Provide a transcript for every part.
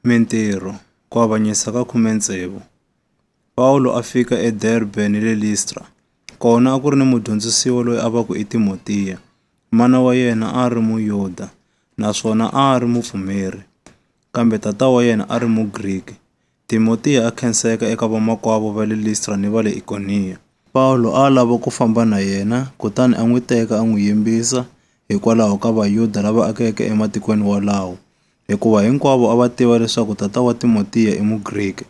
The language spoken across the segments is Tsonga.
Mintirho, Ku avanyisa ka khume tsevu. Pawulo a fika eDerbe ni le Listra. Kona a ku ri ni mudyondzisiwa loyi a va ku i Timotiya. Mana wa yena a ri Muyuda naswona a ri mupfumeri, kambe tata wa yena a ri Mugriki. Timotiya a khenseka eka vamakwavo va le Listra ni va le Ikoniya. Pawulo a a lava ku famba na yena, kutani a n'wi teka a n'wi yimbisa hikwalaho ka Vayuda lava akeke ematikweni wolawo, hikuva hinkwavo a va tiva leswaku tata wa Timotiya i Mugriki.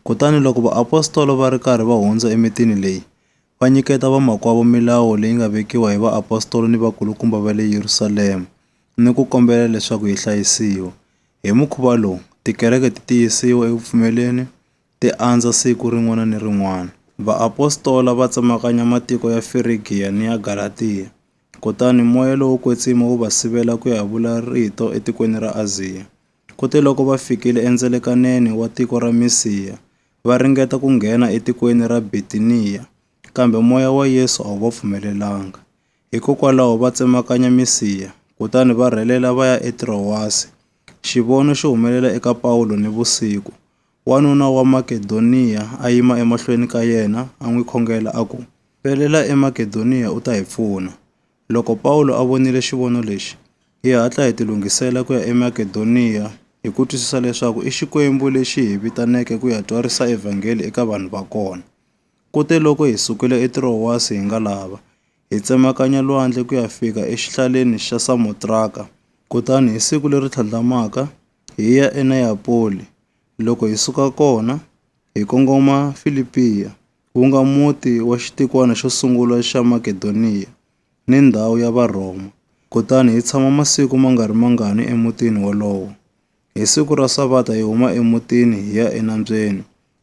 Kutani loko vaapostola va ri karhi va hundza emitini leyi, va nyiketa vamakwavo milawu leyi nga vekiwa hi vaapostola ni vakulukumba va le Yerusalema ni ku kombela leswaku yi hlayisiwa. Hi mukhuva lowu, tikereke ti tiyisiwa eku pfumeleni, ti andza siku rin'wana ni rin'wana. Vaapostola va tsemakanya matiko ya Firigiya ni ya Galatiya, kutani moya lowo kwetsima wu va sivela ku ya vula rito etikweni ra Aziya. Kutiloko va fikile endzelekaneni wa tiko ra Misiya, va ringeta ku nghena etikweni ra Bitiniya, kambe moya wa Yesu a wu va pfumelelanga. Hikokwalaho va tsemakanya misiha, kutani va rhelela va ya eTrowasi. Xivono xi humelela eka Pawulo nivusiku. Wanuna wa Makedoniya a yima emahlweni ka yena, a n'wi khongela a ku, Pelela eMakedoniya u ta hi pfuna. Loko Pawulo a vonile xivono lexi, hi hatla hi tilunghisela ku ya eMakedoniya, hi ku twisisa leswaku i Xikwembu lexi hi vitaneke ku ya twarisa evhangeli eka vanhu va kona. Kuteloko hi sukile eTirowasi hi nga lava, hi tsemakanya lwandle ku ya fika exihlaleni xa Samotraka, kutani hi siku leri tlhandlamaka, hi ya eNeyapoli, loko hi suka kona, hi kongoma Filipiya, wu nga muti wa xitikwana xo sungula xa Makedoniya ni ndhawu ya Varhoma, kutani hi tshama masiku ma nga ri mangani emutini wolowo. Hi siku ra Savata hi huma emutini hi ya enambyeni,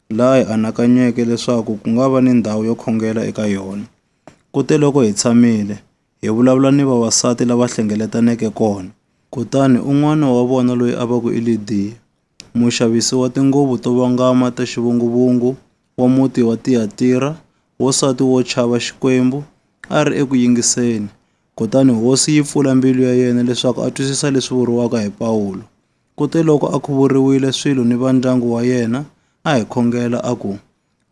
laha hi anakanyeke leswaku ku nga va ni ndhawu yo khongela eka yona. Kuteloko hi tshamile, hi vulavula ni vavasati lava hlengeletaneke kona. Kutani un'wana wa vona loyi a va ku i Lidiya, muxavisi wa tinguvu to vangama ta xivunguvungu wa muti wa Tiyatira, wansati wo chava Xikwembu, a ri eku yingiseni. Kutani Hosi yi pfula mbilu ya yena leswaku a twisisa leswi vuriwaka hi Pawulo. Kuteloko a khuvuriwile swilo ni va ndyangu wa yena, a hi khongela a ku,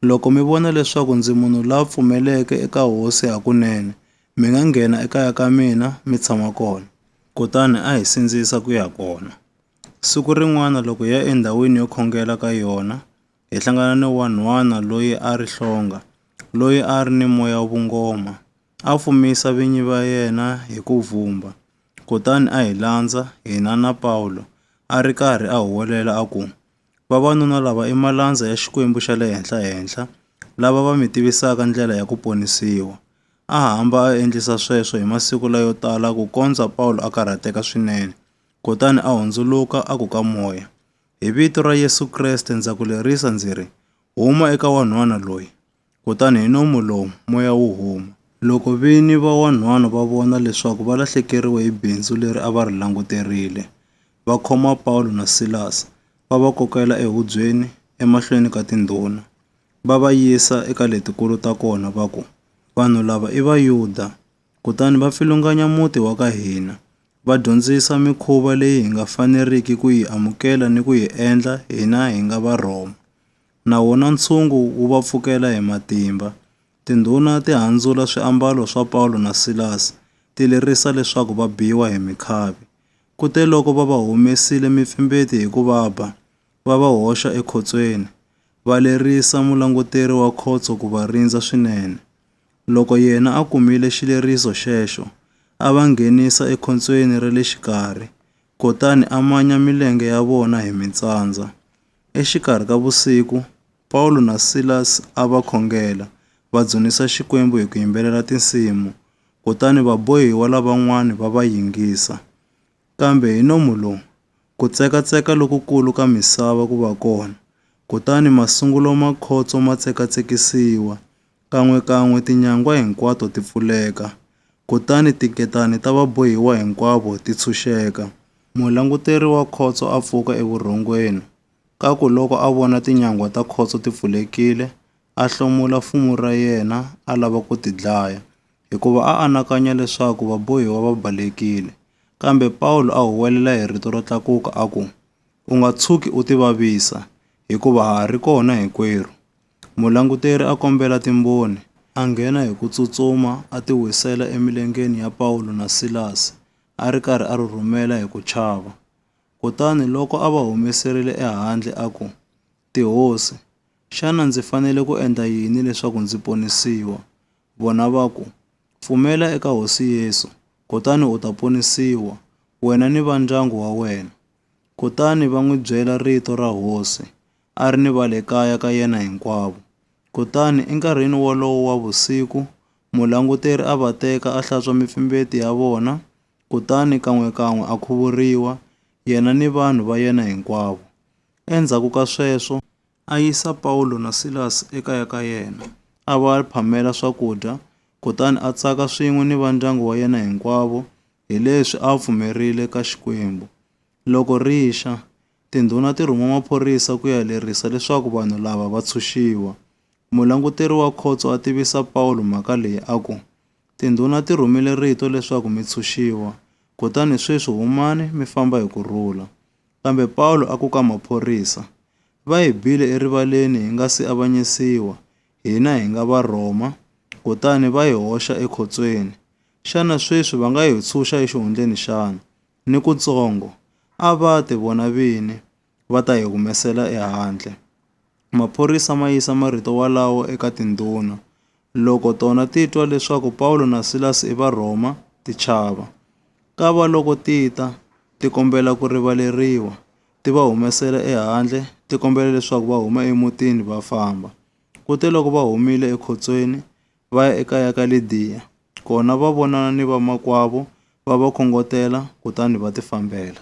Loko mi vona leswaku ndzi munhu la pfumeleke eka Hosi hakunene, mi nga nghena ekaya ka mina mi tshama kona. Kutani a hi sindzisa ku ya kona. Siku rin'wana loko hi ya endhawini yo khongela ka yona, hi hlangana ni wanhwana loyi a ri hlonga, loyi a ri ni moya wa vungoma. A fumisa vinyi va yena hi ku vhumba, kutani a hi landza, hina na Pawulo, a ri karhi a huwelela a ku, Vavanuna lava i malandza ya Xikwembu xa le Henhla-henhla, lava va mi tivisaka ndlela ya ku ponisiwa. A hamba a endlisa sweswo hi masiku layo tala kukondza Pawulo a karhateka swinene, kutani a hundzuluka a ku ka moya, Hi vito ra Yesu Kreste ndza ku lerisa ndzi ri, Huma eka wanhwana loyi! Kutani hi nomu lowu moya wu huma. Loko vini va wanhwana va vona leswaku va lahlekeriwe hi bindzu leri a va ri languterile, va khoma Pawulo na Silasi, va va kokela ehubyeni emahlweni ka tindhuna, va va yisa eka letikulu ta kona, va ku, Vanhu lava i Vayuda, kutani va pfilunganya muti wa ka hina, va dyondzisa mikhuva leyi hi nga faneriki ku yi amukela ni ku yi endla hina hi nga Varhoma. Na wona ntshungu wu va pfukela hi matimba. Tindhuna ti handzula swiambalo swa Pawulo na Silasi, ti lerisa leswaku va biwa hi mikhavi. Kuteloko va va humesile mipfimbeti hi ku va ba, va va hoxa ekhotsweni, va lerisa mulanguteri wa khotso ku va rindza swinene. Loko yena a kumile xileriso xexo, a va nghenisa ekhotsweni ra le xikarhi, kutani a manya milenge ya vona hi mitsandza. Exikarhi ka vusiku, Pawulo na Silas a va khongela, va dzunisa Xikwembu hi ku yimbelela tinsimu, kutani vabohiwa lavan'wana va va yingisa. Kambe hi nomu lowu, ku tsekatseka lokukulu ka misava ku va kona, kutani masungulo ma khotso ma tsekatsekisiwa, Kan'we-kan'we tinyangwa hinkwato ti pfuleka, kutani tinketanani ta va bohiwa hinkwavo ti tshunxeka. Mulanguteri wa khotso a pfuka evurhongweni, ka ku loko a vona tinyangwa ta khotso ti pfulekile, a hlomula fumu ra yena a lava ku ti dlaya, hikuva a anakanya leswaku vabohiwa va balekile. Kambe Pawulo a huwelela hi rito ro tlakuka a ku, U nga tshuki u tivavisa, hikuva ha ha ri kona hinkwerhu. Mulanguteri a kombela Timboni, a nghena hi ku tsutsuma a ti wisela emilengeni ya Pawulo na Silasi, a ri karhi a rhurhumela hi ku chava. Kutani loko a va humeserile ehandle a ku, Tihosi, xana ndzi fanele ku endla yini leswaku ndzi ponisiwa? Vona va ku, Pfumela eka Hosi Yesu, kutani u ta ponisiwa, wena ni va ndyangu wa wena. Kutani va n'wi byela rito ra Hosi, a ri ni va le kaya ka yena hinkwavo. Kutani enkarhini wolowo wa vusiku, mulanguteri a va teka a hlantswa mipfimbeti ya vona, kutani kan'we-kan'we a khuvuriwa, yena ni vanhu va yena hinkwavo. Endzhaku ka sweswo, a yisa Pawulo na Silasi ekaya ka yena, a va phamela swakudya, kutani a tsaka swin'we ni va ndyangu wa yena hinkwavo, hileswi a pfumerile ka Xikwembu. Loko ri xa, Tindhuna ti rhuma maphorisa ku ya lerisa leswaku vanhu lava va tshunxiwa. Mulanguteri wa khotso a tivisa Pawulo mhaka leyi a ku, Tindhuna ti rhumile rito leswaku mi tshunxiwa. Kutani sweswi humani mi famba hi ku rhula. Kambe Pawulo a ku ka maphorisa, Va hi bile erivaleni hi nga si avanyisiwa, hina hi nga Varhoma, kutani va hi hoxa ekhotsweni. Xana sweswi va nga hi tshunxa exihundleni xana? ni kutsongo a va ti vona vini va ta hi humesela ehandle. Maphorisa ma yisa marito walawo eka tindhuna. Loko tona ti twa leswaku Pawulo na Silasi i Varhoma, ti chava. Ka va loko ti ta ti kombela ku rivaleriwa, ti va humesela ehandle, ti kombela leswaku va huma emutini va famba. Kuteloko va humile ekhotsweni, va ya ekaya ka Lidiya. Kona va vonana ni vamakwavo, va va khongotela, kutani va tifambela.